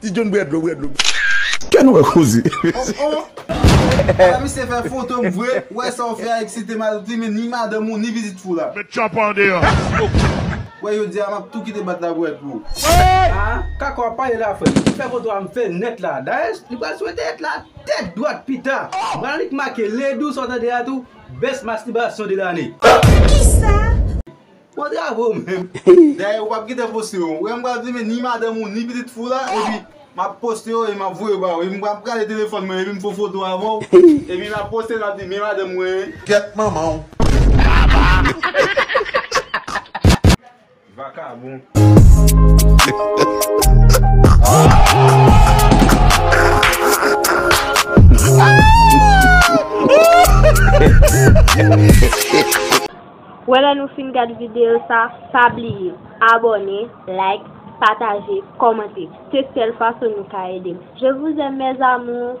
Ti John bwè dlo, bwè dlo. Kè nou wè koze. Oh oh! Ala misye fè foto m vre, ou wè sa ou fè a eksite m al plimen ni madanm ou ni pitit fou la. Met tchanpan an deyò. Wè jodi a map tou kite bat la bwè dlo. Aa kaka wap pale la frèm m fè foto a m fè nèt la dayèch li pral sou entènèt la tèt dwat pita m pral annik make ledou sa w tande a tou best masturbation de l'année. Kisa? Bon travay ou menm. Dayè ou pap gentan poste yo. Ou wè m pral filme ni madanm ou ni pitit fou la epi map poste yo e map voye yo ba ou epi m pral gade telefòn mwen epi m fè yon foto avèw epi map poste map di men madanm mwen. Gyèt manmanw. Vakabon. Wè lè nou fin gad videyo sa pa bliye abòne like pataje kòmante se sèl fason nou ka edem je vous aime mes amours.